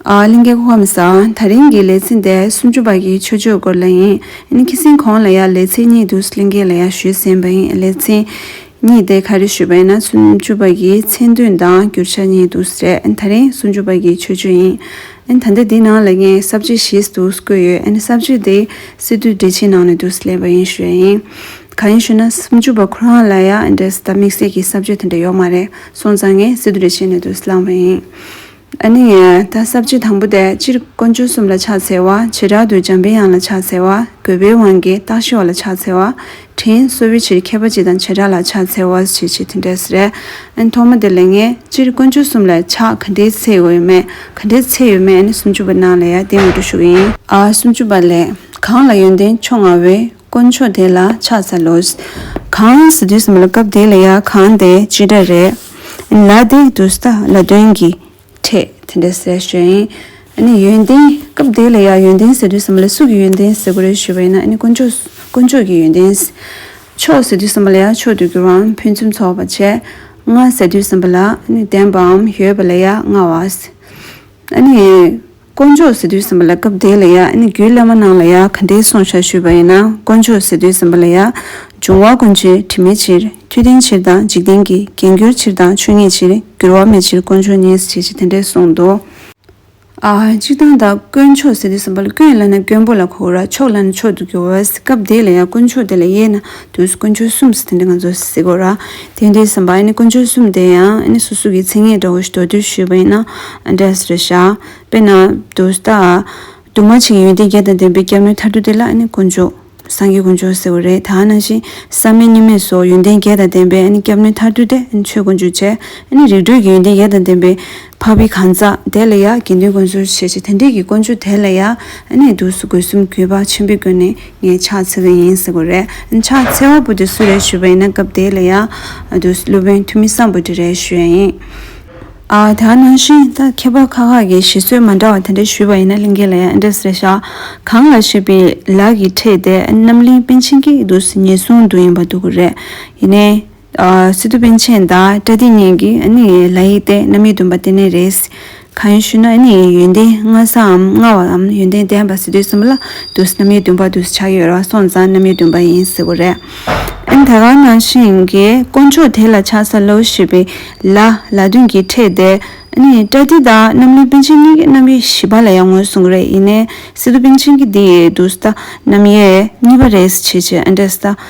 གླིང་གེ་ཁོ་མི་ས། ད་རིང་གི་ལེ་ཚེ་འདས་སུམ་ཅུ་པ་གི་ཆོས་ཆོས་སྐོར་ལ་ཡིན། ཨིན་ཁི་སིན་གོང་ལ་ཡ་ལེ་ཚེ་གཉིས་འདུག་གླིང་གེ་ལ་ཡ་ཞུས་ཟིན་པ་ཡིན་ལེ་ཚེ། གཉིས་དེ་ག་རེ་ཞུས་པ་ཡིན་ན་སུམ་ཅུ་པ་གི་མཚན་དོན་དང་བསྒྱུར་བྱ་གཉིས་འདུག་རེད་ད་རིང་སུམ་ཅུ་པ་གི་ཆོས་ཆོས་ཡིན། ཨིན་ད་འདི་འདི་ནང་ལ་ངས་གསབ་བྱེད་ཞིས་འདུག་བཀོད་ཡོད་ཨིན་གསབ་བྱེད་དེ་སི་ཏུའི་འགྲེལ་བྱེད་ནང་ནས་འདུག་ལེ་བ་ཡིན་ཞུས་ཡ་ཡིན། ག་ཡིན་ཞུས་ན་སུམ་ཅུ་པ་ཁོ་རང་ལ་ཡ་འདྲེ་ཟ་དམིགས་བསལ་གི་གསབ་བྱེད་དེ་འདྲ་ཡོག་མ་རེད་སོང་ཙང་ངས་སི་ཏུ་འགྲེལ་བྱེད་ནས་འདུག་བླངས་བ་ཡིན། ཨ་ནི་ཡ། ད་གསབ་བྱེད་དང་པོ་དེ་སྤྱིར་དཀོན་མཆོག་གསུམ་ལ་ཕྱག་འཚལ་བ། བྱེ་བྲག་ཏུ་འཇམ་པའི་དབྱངས་ལ་ཕྱག་འཚལ་བ། དགོས་པའི་དབང་གིས་སྟག་ཤི་བ་ལ་ཕྱག་འཚལ་བ། དྲིན་གསོ་བའི་ཕྱིར་མཁས་པ་སྤྱི་དང་བྱེ་བྲག་ལ་ཕྱག་འཚལ་བ། ཞེས་བྱེད་དེ་འདྲས་རེད། ཨ་ནི་ཐོག་མ་དེ་ལས་ངེས། སྤྱིར་དཀོན་མཆོག་གསུམ་ལ་ཕྱག་ག་འདྲའི་ཚད་ཡོད་མེད། ག་འདྲའི་ཚད་ཡོད་མེད་ཨ་ནི་སུམ་ཅུ་པ་ནང་ལ་ཡང་བསྟན་མེད་དུ་བཞུགས་ཡིན། ཨ། སུམ་ཅུ་པ་ལས། གང་ལ་ཡོན་ཏན་མཆོག་མངའ་བའི། དཀོན་མཆོག་དེ་ལ་ཕྱག་འཚལ་ལོ། གང་ཟེར་དུས་སམ་ལ་སྐབས་དེ་ལ་ཡང་གང་དེ་ཅི་འདྲ་རེད། ལ་དེ་དུས་ད་ལ་དོན་གྱི་ཕྲད་དེ་འདྲ་ཟེར་ཞོར་ཡིན། ཨཱ་ནི་ཡོན་ཏན་སྐབས་དེ་ལ་ཡང་ཡོན་ཏན་ཟེར་དུས་སམ་ལ་སུ་གི་ཡོན་ཏན་ཟེར་དགོས་རེད་ཞུས་པ་ཡིན་ན་ཨཱ་ནི་དཀོན་མཆོག་དཀོན་མཆོག་གི་ཡོན་ཏན། མཆོག་ཟེར་དུས་སམ་ལ་ཡང་ཕྱོགས་དུས་ཀྱི་རང་ཕུན་ཚུན་ཚོགས་པ་ཆེ། མངའ་ཟེར་དུས་སམ་ལ་ཨཱ་ནི་བདེན་པའམ་ཡོད་པ་ལ་ཡང་མངའ་བ། ཨཱ་ནི། དཀོན་མཆོག་ཟེར་དུས་སེམས་པ་ལ་སྐབས་དེ་ལ་ཡང་ནི་རྒྱུད་བླ་མ་རྣམས་ལ་ཡང་ག་འདྲའི་སྲོག་ཆགས་ཞུས་པ་ཡིན་ན་དཀོན་མཆོག་ཟེར་དུས་སེམས་པ་ལ་ཡང། འབྱུང་བ་ཀུན་གྱི་དྲི་མེད་ཕྱིར། མཐུ་ལྡན་ཕྱིར་དང་འཇིག་རྟེན་གྱི་རྒྱན་གྱུར་ཕྱིར་དང་ཆོས་ཉིད་ཕྱིར། འགྱུར་བ་མེད་ཕྱིར་དཀོན་མཆོག་ཉིད་ཅེས་ཀྱི་དེ་འདྲས་གསུངས་འདུག། གཅིག་དང་དང་དཀོན་མཆོག་ཟེར་དུས་སེམས་པ་ལ་སྐྱོན་ཡིན་ལ་ན་སྐྱོན་པོ་ལ་གོ་ར་ཕྱོགས་ལ་ན་ཕྱོགས་དུ་གྱུར་བས་སྐབས་དེ་ལ་ཡང་དཀོན་མཆོག་དེ་ལ་ཡས་ན་དུས་སུ་ཀུན་སྤྱོད་གསུམ་ཟེར་དེ་འདྲ་ང་ཚོས་གཟིགས་དགོས་ར། དེ་འདྲའི་ཟིན་པ་ཡིན་ནི་ཀུན་སྤྱོད་གསུམ་དེ་ཡང་སོ་སོ་གི་ཚིག་ངན་འདྲ་བོ་ཞིག་དོད་དོད་ཞུས་པ་ཡིན་ན་འདྲ་ཟེར་བྱ། དཔེར་ན། དུ་ས། དུ་མ་ཆེ་གི་ཡོན་ཏན་བརྒྱད་དང་ལྡན་པའི་སྐྱབས་མོས་ཐར་དུས་དེ་ལ་ཀུན་སྤྱོད། སངས་རྒྱས་ཀུན་སྤྱོད་ཟེར་བ་རེད་ད་ནང་བཞིན་བསམ་མེད་གཉིས་མེད་སོགས་ཡོན་ཏན་བརྒྱད་དང་ལྡན་པའི་སྐྱབས་མོས་ཐར་དུས་དེ་ཆོས་ཀུན་སྤྱོད་བྱས། རིག་གྲོལ་གྱི་ཡོན་ཏན་བརྒྱད་དང་ལྡན་པའི། འཕགས་པའི་གང་ཟག་དེ་ལ་ཡང་དགེ་འདུན་དགོན་ཟུར་བྱས་ཀྱི་དེ་འདྲས་ཀྱི་དཀོན་མཆོག་དེ་ལ་ཡང་གནས་འདུག་སུ་དགོས་གསུམ་གུས་པ་ཆེན་པོས་བཀོད་ནས་ངས་ཕྱག་འཚལ་བ་ཡིན་ཟེར་གོ་རེད་ཕྱག་འཚལ་བ་པོ་དེ་སུ་རེད་ཞུས་པ་ཡིན་ན་སྐབས་དེ་ལ་ཡང་འདུག་སློབ་དཔོན་འཐུས་མི་བསམ་པོ་དེ་རེད་ཞུས་ཡ་ཡིན། ཨ་ད་ནང་བཞིན་ད་མཁས་པ་ཁག་ཁག་གིས་ཞེ་སོད་མ་འདྲ་བ་དེ་འདྲས་ཞུས་པ་ཡིན་ན་གླིང་གའི་ལ་ཡང་ཨེ་འདྲ་ཟེར་ཤག་གང་ལ་ཞེས་པའི་ལག་གིས་ཁྲིད་དེ་རྣམ་གླིང་པཎ་ཆེན་གྱི་འདུག་སུ་ཉེས་གསུངས་འདུག་ཡིན་པ་འདུག་གོ་རེད་ཡིན་ནའི། སི་ཏུ་པན་ཆེན་དང་ཀྲ་ཏི་གཉིས་ཀྱི་ནི་ལ་ཡིག་སྟེ་རྣམ་དབྱེ་བདུན་པ་དེ་ནི་རེད། གང་ཞུ་ན་ནི་ཡོན་ཏན་ལྔ་སའམ་ལྔ་བའམ་ཡོན་ཏན་ལྡན་པ་སི་ཏུ་གསུམ་ལ་དུ་སི་རྣམ་དབྱེ་བདུན་པ་དུ་སི་ཆགས་ཡོད་ར་སོང་ཙང་རྣམ་དབྱེ་བདུན་པ་ཡིན་ཟེར་བ་རེད། ད་གང་ན་ཤིང་གི་དཀོན་མཆོག་དེ་ལ་ཆགས་ས་ལོ་ཞེས་པའི་ལ་ལ་བདུན་གྱིས་ཕྲད་དེ། ནི་ཀྲ་ཏི་དང་རྣམ་གླིང་པན་ཆེན་གཉིས་ཀྱི་རྣམ་དབྱེ་བཞི་པ་ལ་ཡང་ངོས་བཟུང་གི་རེད་ཡིན་ནའི་སི་ཏུ་པན་ཆེན་གྱི་དེ་ཡི་དུ་སི་ད་རྣམ་དབྱེ་གཉིས་པ་རེད་ཟེར་བྱེད་ཅེས་ཨ་འདྲས་སི་ད་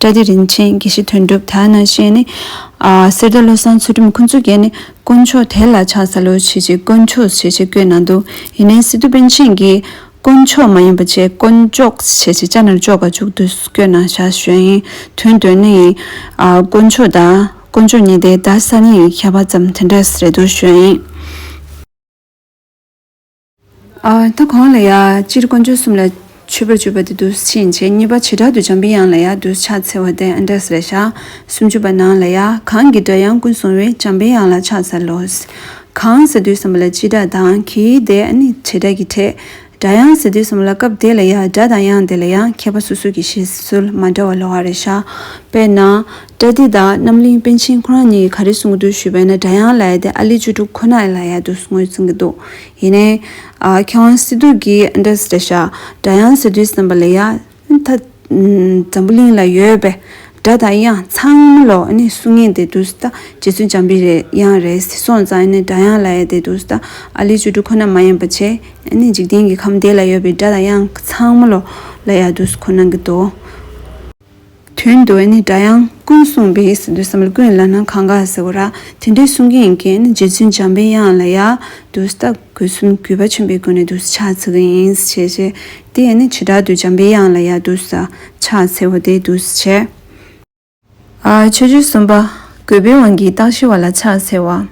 བཀྲ་བདེ་རིན་ཆེན་དགེ་བཤེས་དོན་གྲུབ་དར་ནག་བཅས་ནི། གསེར་རྟ་བློ་བཟང་ཚུལ་ཁྲིམས་ཁོ་ཚུལ་རྒྱལ་ནི་དཀོན་མཆོག་དེ་ལ་ཕྱག་འཚལ་ལོ་བྱེད་ཅིག་དཀོན་མཆོག་བྱེད་ཅེས་བསྐོས་ན་འདུག་ཡིན་ནའི་སི་ཏུ་པན་ཆེན་གྱིས། དཀོན་མཆོག་མ་ཡིན་པ་བཅས་དཀོན་མཆོག་བྱེད་ཅེས་ལྕགས་ནར་ཅོག་ག་བཅུག་དུས་སུ་བསྐྱོད་ན་ཞག་ཞོན་ཡིན་དོན་དོན་ནི་ཡིན། དཀོན་མཆོག་དང་དཀོན་མཆོག་གཉིས་དེ་དར་ས་ནི་ཡིན་ཁྱད་པར་ཙམ་དེ་འདྲ་རེད་འདུག་ཞོན་ཡིན། ད་གོང་ལ་ཡང་སྤྱིར་ཀོང་ཇོ་གསུམ་ལ་མཆོད་པར་བརྗོད་པ་དེ་དུས་ཕྱིན་ཆད་གཉིས་པ་བྱེ་བྲག་ཏུ་འཇམ་པའི་དབྱངས་ལ་ཡང་དུས་ཕྱག་འཚལ་བ་སྟེ་འབྲས་ལས་ཞག་སུམ་ཅུ་པ་ནང་ལ་ཡང་གང་གི་སྒྲ་དབྱངས་ཀུན་བཟུང་བས་འཇམ་པའི་དབྱངས་ལ་ཕྱག་འཚལ་ལོ། གང་ཟེར་དུས་གསུམ་པ་ལ་སྤྱི་སྒྲ་དང་གི་སྒྲས་ནི་བྱེ་བྲག་གི་ཕྲད། སྒྲ་དབྱངས་ཟེར་དུས་གསུམ་པ་ལ་སྐབས་དེ་ལ་ཡང་སྒྲ་དང་དབྱངས་དེ་ལ་ཡང་མཁས་པ་སོ་སོ་གི་བཞེད་སྲོལ་མ་འདྲ་བ་ལོ་བར་ཤར། དཔེར་ན། བཀྲ་ཏི་དང་རྣམ་གླིང་པཎ་ཆེན་ཁོ་རང་གཉིས་ག་རེ་གསུང་གི་འདུག་ཞུས་པས་ན་སྒྲ་དབྱངས་ལ་ཡ་དེ་ཨ་ལི་བཅུ་དྲུག་ཁོ་ན་ལ་ཡ་དུ་ངོས་གསུང་གི་འདུག་ཡིན་ནའི། མཁས་དབང་སི་ཏུ་གིས་ཨ་འདྲ་སི་འདྲ་བྱ། སྒྲ་དབྱངས་ཟེར་དུས་བསམ་པ་ལ་ཡ། ད་འཛམ་བུ་གླིང་ལ་ཡོད་པའི་སྒྲ་དང་དབྱངས་ཚང་མ་ལོ་ནི་གསུང་ངེས་དེ་འདུག་ཟི་ད་རྗེ་བཙུན་འཇམ་པའི་དབྱངས་རེད་ཟི་སོང་ཙང་ཡ་ནི་སྒྲ་དབྱངས་ལ་ཡ་དེ་འདུག་ཟི་ད་ཨ་ལི་བཅུ་དྲུག་ཁོ་ན་མ་ཡིན་པ་ཆེ་ཡ་ནི་འཇིག་རྟེན་གྱི་ཁམས་དེ་ལ་ཡོད་པའི་སྒྲ་དང་དབྱངས་ཚང་མ་ལོ་ལ་ཡ་དུ་ཟི་ཁོ་ན་གི་འདུག། དོན་དུ་ནི་སྒྲ་དབྱངས་ཀུན་གསུངས་པས་འདོད་བསམ་ལ་ཀུན་ལ་ནི་གང་དགའ་ཟེར་བ་ར་དེ་འདྲའི་གསུང་གིན་ཡིན་གྱིན་རྗེ་བཙུན་འཇམ་པའི་དབྱངས་ལ་ཡང་དུ་ས་བཏགས་གོས་གསུམ་གུས་པ་ཆེན་པོས་བསྐོན་ནས་དུ་ས་ཕྱག་འཚལ་གྱིན་ཡིན་ཞེས་བཤད། དེས་ནི་བྱེ་བྲག་ཏུ་འཇམ་པའི་དབྱངས་ལ་ཡང་དུ་ས་ཕྱག་འཚལ་བ་དེས་དུ་ས་བྱས། ཆོས་རྗེ་གསུམ་པ་གུས་པའི་དབང་གིས་རྟགས་ཞི་བ་ལ་ཕྱག་འཚལ་བ།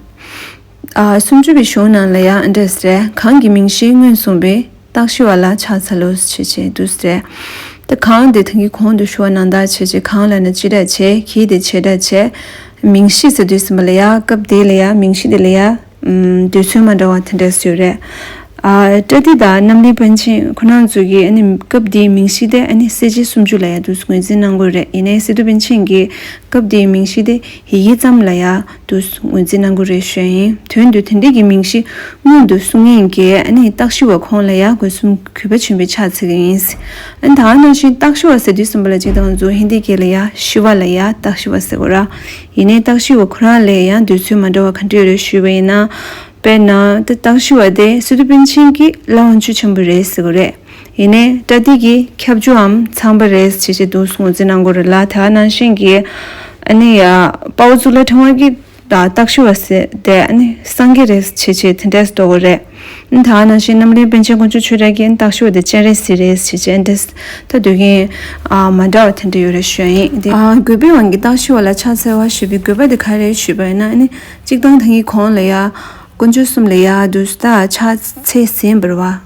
སུམ་ཅུ་པའི་གཞུང་ནང་ལ་ཡང་འདྲེ་ཟེར། གང་གི་མིང་གཞི་སྔོན་གསུངས་པའི། རྟགས་ཞི་བ་ལ་ཕྱག་འཚལ་ལོ། ཞེས་བྱའི་བདུད་ཟེར། དེ་གང་དེ་དེང་གི་གོང་དུ་ཞུ་བ་ནང་དག་བྱེད་ཅེས་གང་ལ་ན་སྤྱི་སྒྲ་བྱས་གྱིས་དེ་བྱེད་སྒྲ་བྱས། མིང་གཞི་ཟེར་དུས་ཟིན་པ་ལ་ཡང་སྐབས་དེ་ལ་ཡང་མིང་གཞི་དེ་ལ་ཡང། དུས་ཚོད་མ་འདྲ་བ་དེ་འདྲས་ཡོད་རེད། པྲ་ཏི་དང་གནམ་ལི་པཎ་ཆེན་ཁོ་ནར་འཛུལ་གྱིས་ཨ་ནི་སྐབས་དེའི་མིང་གཞི་དེ་ཨ་ནི་གསལ་བྱེད་སུམ་ཅུ་ལ་ཡང་དུས་སུ་ངོས་འཛིན་གནང་དགོས་རེད་ཡིན་ནའི་སི་ཏུ་པཎ་ཆེན་གྱིས་སྐབས་དེའི་མིང་གཞི་དེ་ཧི་ཡིག་ཙམ་ལ་ཡང་དུ་ངོས་འཛིན་གནང་གི་རེད་བཤད་ཡིན་དོན་དུ་དེ་འདྲས་ཀྱི་མིང་གཞི་སྔོན་དུ་གསུང་ཡིན་གྱི་ཨཱ་ནི་སྟག་ཤི་བ་ཁོང་ལ་ཡག་དགོས་གསུམ་གུས་པ་ཆེན་པོས་ཕྱག་འཚལ་གྱི་ཡིན། ཨཱ་ནི་ད་ནང་བཞིན་སྟག་ཤི་བ་ཟེར་དུས་གསུམ་པ་ལ་ཅིག་དང་གཟུགས་ཧིན་དི་སྐད་ལ་ཡག་ཤི་བ་ལ་ཡག་སྟག་ཤི་བ་ཟེར་གོ་ར། ཡིན་ནའི་སྟག་ཤི་བ་ཁོ་རང་ལས་ཡང་འདོད་ཚུལ་མ་འདྲ་བ་ག་འདྲས་རེད་ཞུས་པ་ཡིན་ན། དཔེར་ན། སྟག་ཤི་བ་དེ་སི་ཏུ་པིན་ཆིན་གྱི་བླ་འོང་ཆོས་ཆེན་པོ་རེད་ཟེར་གི་རེད། ཡིན་ནའི་དགྲ་སྡིག་གི་ཁྱབ་རྒྱུའམ་ཚངས་པ་རེད་ཅེས་བྱས་འདུག་སུང་ཙི་ནང་སྒོར་ལ་ད་ནང་བཞིན་གྱི་ཨ་ནི་དཔའ་བོ་གཙུག་ལག་ཕྲེང་བ་གི་རྟགས་ཤོར་བ་ཟེར་དེ་ཨ་ནི་སངས་རྒྱས་རེད་ཅེས་བྱས་དེ་འདྲས་འདོགས་དགོས་རེད། ད་ནང་བཞིན་རྣམ་གླིང་པན་ཆེན་དཀོན་མཆོག་ཆོས་གྲགས་ཀྱི་རྟགས་ཤོར་དེ་སྤྱན་རས་གཟིགས་རེད་ཅེས་བྱས་འདྲས་ད་སྡོད་མཁན་མ་འདྲ་བ་དེ་འདྲས་ཡོད་རེད་ཞུས་ཡིན་དེ། རྒོད་པོའི་དབང་གི་རྟགས་ཤོར་བ་ལ་ཕྱག་འཚལ་བ་ཞུས་པའི་དགོས་པ་དེ་ག་རེད་ཞུས་པ་ཡིན་ན་ཨ་ནི་གཅིག་ཐང་ཐང་གི་གོང་ལ་ཡ་དཀོན་མཆོག་གསུམ་ལ་ཡ་བདུད་བདག་ཕྱག་འཚལ་ཟིན་པར་བ།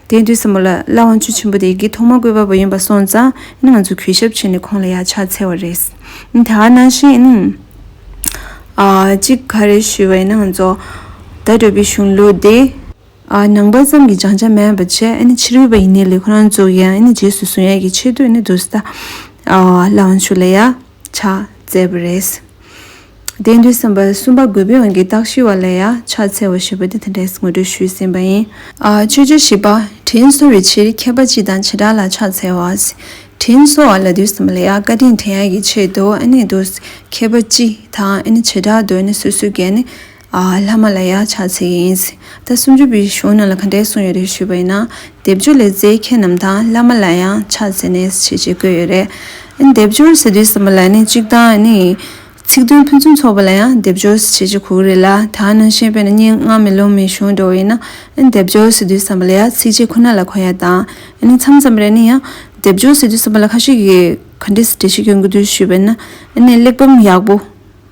དེའི་དུས་སུ་མོ་ལ་བླ་དབང་ཆོས་ཆེན་པོ་དེ་གའི་ཐོག་མ་བཀོད་པ་བོ་ཡིན་པ་སོང་ཙང་ང་ཚོ་གུས་ཞབས་བྱས་ནས་ཁོང་ལ་ཡར་ཕྱག་འཚལ་བ་རེད། དེ་ག་ནང་བཞིན་གཅིག་ག་རེ་ཞུས་པ་ཡིན་ན་ཚོ་ད་གྲོས་པའི་གཞུང་ལུགས་དེ། ནང་པ་ཙམ་གྱི་སྦྱང་བྱ་མེད་པ་བྱས་ཕྱིར་འོས་པ་ཡིན་ནི་ལས་ཁོ་རང་ཚོ་གིས་རྗེས་སུ་བཟུང་ཡས་ཀྱི་ཆེ་བསྟོད་ནི་དུ་ས། བླ་དབང་ཆོས་ལ་ཡ། ཕྱག་བཙལ་བ་རེད། དེང་དུས་སེམས་དཔའ་གསུམ་པ་རྒོད་པོའི་དབང་གིས་རྟགས་ཞུ་བ་ལས་ཡང་ཕྱག་འཚལ་བ་ཞེས་པ་འདི་དང་འབྲེལ་ངོ་སྤྲོད་ཞུས་ཟིན་པ་ཡིན། ཆོས་རྗེ་བཞི་པ། དྲིན་གཟོ་བའི་ཕྱིར་མཁས་པ་སྤྱི་དང་བྱེ་བྲག་ལ་ཕྱག་འཚལ་བ། དྲིན་གཟོ་བ་ལ་དུས་གསུམ་ལ་ཡང་བཀའ་དྲིན་དྲན་ཡ་གི་ཆེད་དུ་ཨ་ནི་དུ། མཁས་པ་སྤྱི་དང་ཨ་ནི་བྱེ་བྲག་ཏུ་ཨ་ནི་སོ་སོའི་འགན། བླ་མ་ལ་ཡང་ཕྱག་འཚལ་ཡིན། ད་སུམ་ཅུ་པའི་གཞུང་རྣམས་ལ་ག་འདྲའི་གསུངས་ཡོད་རེད་ཞུས་པ་ཡིན་ན། སྡེབ་སྦྱོར་ལས་རྩའི་མཁན་རྣམས་དང་བླ་མ་ལ་ཡང་ཕྱག་འཚལ་ནས་ཞེས་བཅས་བཀོད་ཡོད་རེད། སྡེབ་སྦྱོར་ཟེར་དུས་བསམ་པ་ལ་ནི་གཅིག་དང་ནི། ཚིག་དོན་ཕུན་ཚུན་ཚོགས་པ་ལ་ཡང་སྡེབ་སྦྱོར་ཞེས་བཅས་གོ་གི་རེད་ལ་ད་ནང་བཞིན་དཔེར་ན་སྙན་དངགས་མེ་ལོང་མའི་གཞུང་འགྲོ་བ་ཡིན་ན། སྡེབ་སྦྱོར་ཟེར་དུས་བསམ་པ་ལ་ཡང་ཚིགས་བཅད་ཁོ་ན་ལ་གོ་ཡ་དང། ནི་མཚམས་མཚམས་རེ་ནི་ཡང། སྡེབ་སྦྱོར་ཟེར་དུས་བསམ་པ་ལ་ཁ་ཤས་ཀྱིས་ག་འདྲའི་འབྲེལ་བཤད་ཀྱིན་འགོད་དུས་ཞུས་པ་ཡིན་ན། གླེགས་བམ་ཡག་པོ།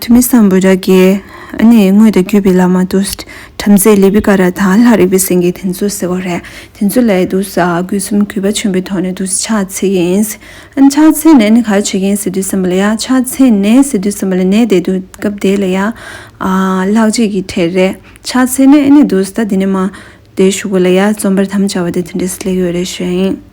ཐུ་མི་སམ་བུ་ར་རྒྱལ། ཨ་ནི་དངོས་དང་བརྒྱུད་པའི་ལ་མ་ཏུས། བྲམ་ཟེ་ལི་བི་ཀ་ར་དང་ལྷ་རིག་པའི་སེང་གེ་དེ་ཚོ་ཟེར་བ་རེད། དེ་ཚོ་ལས་དུ་ས་གུ་གསུམ་གུས་པ་ཆེན་པོའི་ཐོག་ནས་དུ་ས་ཕྱག་འཚལ་གྱི་ཡིན། ཨན་ཕྱག་འཚལ་ནས་ནི་ག་རེ་བྱེད་ཀྱི་ཡིན་ཟེར་དུས་སེམས་པ་ལ་ཡ། ཕྱག་འཚལ་ནས་ཟེར་དུས་སེམས་པ་ལ་ནད་དེ་དུས་སྐབས་དེ་ལ་ཡ། ལྷག་བཅས་ཀྱི་གྲས་རེད། ཕྱག་འཚལ་ནས་ཨ་ནི་དུ་ས་དེ་ནི་མ། དེ་བཞུགས་པ་ལ་ཡ་རྩོམ་པར་དམ་བཅའ་བ་དེ་དེ་འདྲའི་སླད་ཡོད་རེད་བཤད་ཡིན།